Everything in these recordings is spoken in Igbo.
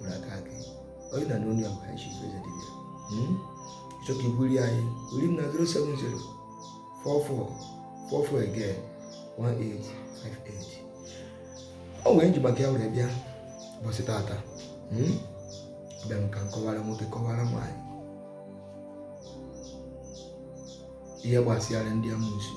nwere aka aka onye na n'onye ahụ High Chief Eze Dibia ị chọọ ka i buli anyị buli m na 070 44 44 again 1858 o nwere m ji maka ya were bịa ụbọchị tata hmm? bịa m ka m kọwara nwoke kọwara nwaanyị ihe gbasịara ndị amusu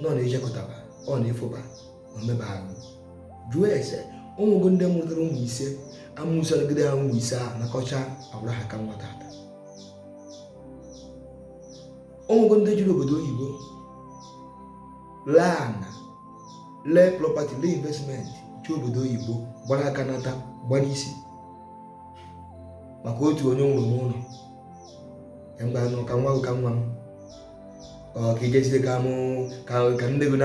na ọ na-ejekọtaba ọ na-efuba na-emeba arụ jụọ ese o nwego ndị mụtara ụmụ ise amusu anọgide ha ụmụ ise ahụ nakọcha agbara ha aka nwa tata o nwego ndị jere obodo oyibo lee ana lee property lee investment jee obodo oyibo gbara aka nata gbara isi maka otu onye nwere n'ụnọ mgbanụ ka nwa ka nwa m ka ijezide ka mụ ka nne gị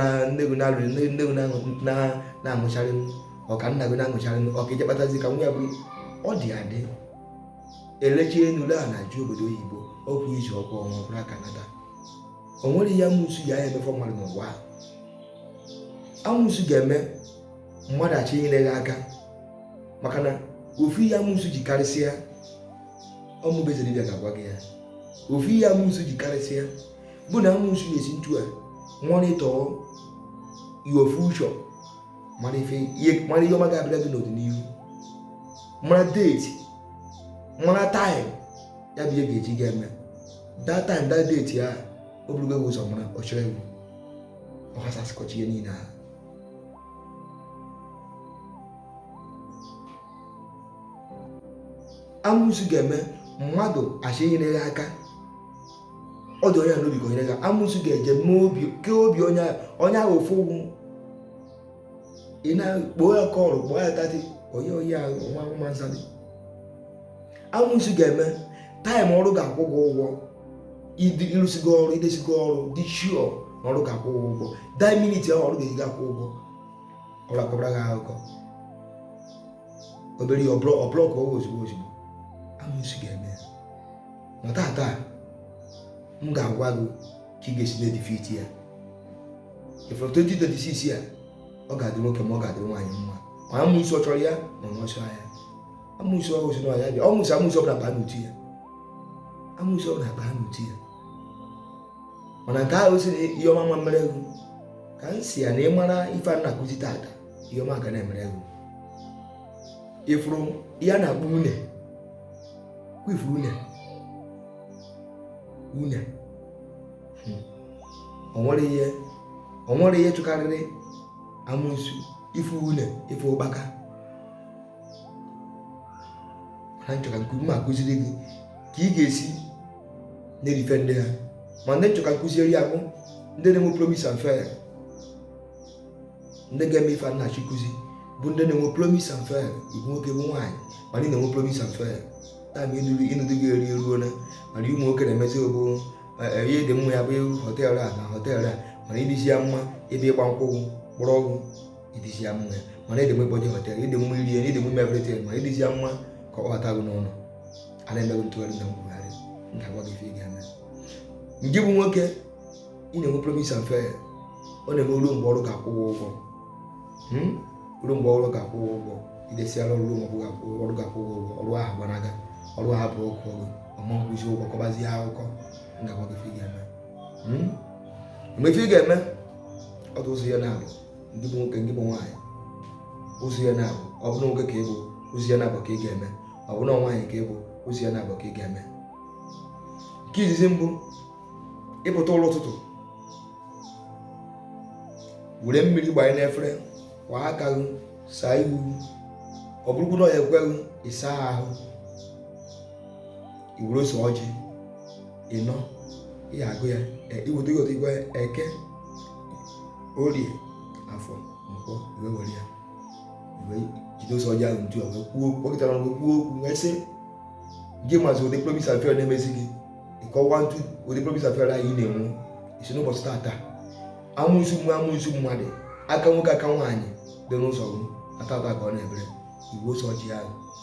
na-alụrụ nne gị na-amụcharị m ọka nna gị na-amụcharị m ọka ije kpatazi ka nwa ya bụrụ ọ dị adị elechi enu lee ana jee obodo oyibo okwu iji ọkwa ọnwa gbara aka nata o nwere ihe amusu ya ya emefọ mmadụ n'ụwa amusu ga-eme mmadụ a sị nyere gị aka maka na ofu ihe amusu ji karịsịa ọ mụ bụ Eze Dibia ga-agwa gị ya ofu ihe amusu ji karịsịa bụ na amusu na-esi ntu a monitor your future mara ife ihe mara ihe ọma ga-abịara gị n'ọdịnihu mara date mara time ya bụ ihe ga-eji ga eme that time that date ya o burugo gị ụzọ mara ọ chọrọ egwu ọ ghasasịkọchaa ihe niile ahụ amusu ga-eme mmadụ a sị nyere ya aka ọ dị onye n'obi ka o nyere ya amusu ga-eje mee obi kee obi onye onye ahụ ofu ugwu ị na-akpọ ya call kpọọ ya thirty onye onye ahụ nwa nwa nsa dị amusu ga-eme time ọrụ ga-akwụ gị ụgwọ ị rụsịgo ọrụ i jesigo ọrụ dị sure na ọrụ ga-akwụ ụgwọ that minute ahụ ọrụ ga-eji akwụ ụgwọ ọrụ akọbara gị akụkọ obere ihe ọbụla ọbụla ka ọwa ozugbo ozugbo amusu ga-eme ya ma tata m ga-agwa gị ka ị ga-esi na-edefeat ya ifere 2026 ya ọ ga-adị nwoke mma ọ ga-adị nwaanyị mma ma amusu ọ chọrọ ya ma ọ nwesịa ya amusu ọ hụsị na ya bịa ọ mụsị amusu ọbụla baa n'uti ya amusu ọbụla baa n'uti ya mana nke ahụ sị na ihe ọma ama mere gị ka m sị ya na ịmara ife a na-akụzi tata ihe ọma ga na-emere gị ịfụrụ ihe a na-akpọ une ka ịfụ une une hmm. onwere ihe onwere ihe chụkarịrị amụsu ịfụ une ịfụ ụkpaka mana m chọ ka nke ume akụziri gị ka ị ga-esi na-eri ife ndị a ma ndị m chọ ka m kụziere ya bụ ndị na-enwe promise and fail ndị ga-eme ife m na-achọ ịkụzi bụ ndị na-enwe promise and fail ịbụ nwoke bụ nwaanyị mana ị na-enwe promise and fail taa ma ịnụ di gị eri eruo na mana ụmụ nwoke na-emezi ogbo e, e, ịdị mma ịba họteelụ a na họteelụ a mana ịdịzi ya mma ebe ịgba nkwụ kpọrọ ọkụ ịdịzi ya mma mana ịdị mma ịbanye họtel ịdị mma iri ịdị mma everything ma ịdịzi ya mma ka ọ kpọbata gị n'ụlọ a na-eme gị ntụgharị na nkwugharị ga-agwa gị ife ị ga-eme nke bụ nwoke ị na-enwe promise and fail ọ na-eme ruo mgbe ọrụ ga-akwụ ụgwọ hmm? ruo mgbe ọrụ ga-akwụ ụgwọ idesiara ọrụ ruo mgbe ọrụ ga-akwụ ụgwọ ọrụ ahụ gbanaga ọrụ ahụ bụ ọkụ ọrụ ọ ma-akwụzi ụgwọ kọbazie akụkọ ga-agwa gị ife ị ga-eme hmm? mgbe ife ị ga-eme ọ dị ụzọ ihe naabọ ndị bụ nwoke ndị bụ nwaanyị ụzọ ihe naabọ ọ bụrụ nwoke ka ịbụ ụzọ ihe naabọ ka ị ga-eme ọ bụrụ nwaanyị ka ịbụ ụzọ ihe naabọ ka ị ga-eme nke izizi mbụ ịpụta ụla ụtụtụ were mmiri gbanye n'efere kwọ aka gị saa ihu ọ bụrụkwu na ọ ya-ekwe gị ịsa ahụ iwere ose ọjị ịnọ ihe agụ ya iweta ihe otigwe eke orie afọ nkwọ wee were ya wee jide ose ọjị ahụ etu a wee kwuo kpọkịtara wee kwuo okwu wee sị gị mazi ụdị promise and fail na-emezi gị ịkọwa etu ụdị promise and fail a ị na-enwe isi n'ụbọchị tata amụsu mmụọ amụsu mmadụ aka nwoke aka nwaanyị dị n'ụzọ gị ọ tata ka ọ na-ebere iwere ose ọjị ahụ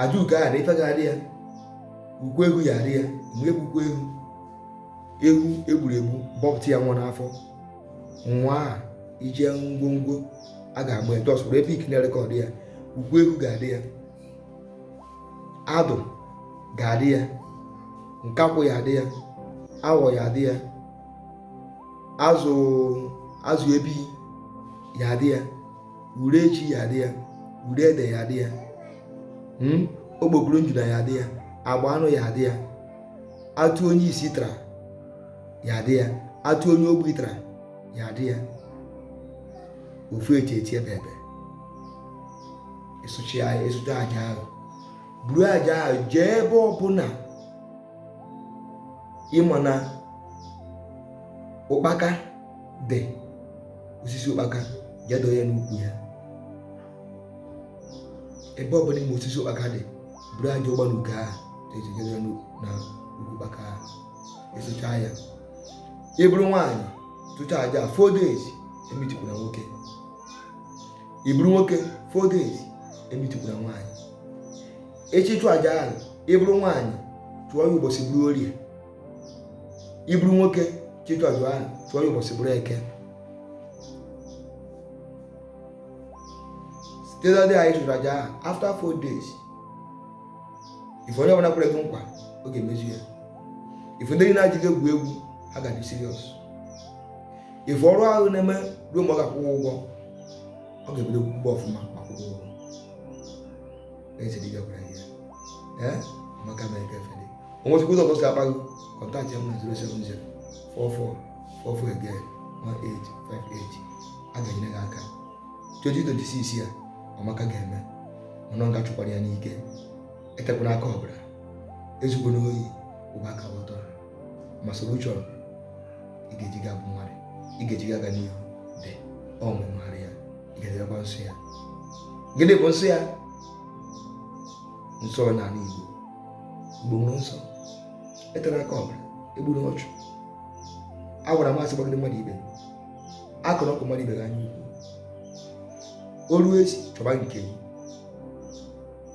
aja ugo ahụ na ife ga-adị ya ukwu ehu ya adị ya mgbe egbukwa ehu ehu egburu egbu bọpụta ya nwa n'afọ nwa a ije ngwongwo a ga-agba je zụrụ ebe ikiri ere ka ọ dị ya ukwu ehu ga-adị ya adụ ga-adị ya nkakwụ ya adị ya awọ ya adị ya azụ azụ ebi ya adị ya ure ji ya dị ya ure ede ya dị ya hmm? okpokoro njuna ya dị ya agba anụ ya dị ya atụ onye isi tara ya dị ya atụ onye ogbi tara ya dị ya ofu echi echi ebe ebe ịsụchi anyị ị chụchaa aja ahụ buru aja ahụ jee ebe ọbụla ị ma na ụkpaka dị osisi ụkpaka jee doo ya n'ukwu ya ebe ọ bụla ị ma osisi ụkpaka dị buru aja ụgbọ n'ugo ahụ eji ya na ukwu ụkpaka ahụ ị chụchaa ya ị bụrụ nwaanyị chụchaa aja four days emetụkwana nwoke ị bụrụ nwoke four days emetụkwana nwaanyị ị chọọ ịchụ aja ahụ ị bụrụ nwaanyị chụọ ya ụbọchị bụrụ orie ị bụrụ nwoke chọọ ịchụ aja ahụ chụọ ya ụbọchị bụrụ eke site na ndị anyị chụrụ aja ahụ after four days ife onye ọbụla kwere gị nkwa ọ ga-emezu ya ife ndị na-eji gị egwu egwu ha ga dị serious ife ọrụ ahụ na-eme ruo mgbe ọ ga-akwụ gị ụgwọ ọ ga-ebido kwụba gị ọfụma ma kwụọ gị ụgwọ na-echedi gị ọbara ihe ee maka na ike fere onwe chukwu ụzọ si akpa gị contact ya na 070 44 44 again 1858 a ga-enyere gị aka 2026 ya ọmaka ga-eme ọnụ nga chụkwara ya n'ike etekwana aka ọbara ezukwana ohi ụba ka ọtọ ma solution ị ga-eji ga bụ mmadụ ị ga-eji ga aga n'ihu dị ọ nwemara ya ị ga-edebekwa nsọ ya gịnị bụ nsọ ya nsọ n'ala Igbo Igbo nwere nsọ etena aka ọbara egbuna ọchụ agbana ama asị gbagide mmadụ ibe akụrụ ọkụ mmadụ ibe gị anya ukwu olu esi chọba nke gị